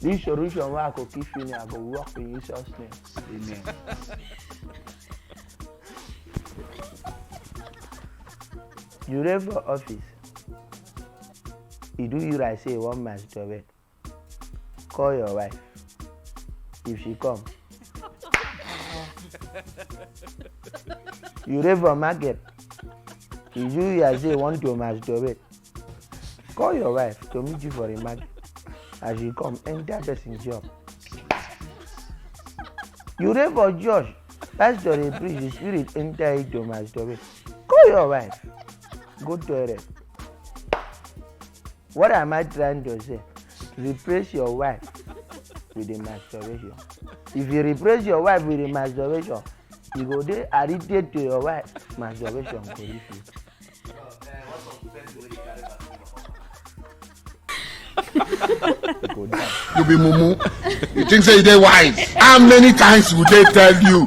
This solution wey I go keep finish, I go work in Jesus' name. Amen. You dey for office, e do you like say you wan masturbate. call your wife if she come you dey for market you do your say want to masturbate call your wife to meet you for the market as you come enter person job you dey for church pastor dey preach the spirit enter you to masturbate call your wife go toilet What am I trying to say? Replace your wife with a masturbation. If you replace your wife with a masturbation, you go dey addicted to your wife. Masturbation go leave you. you be mumu you think say you dey wise how many times would they tell you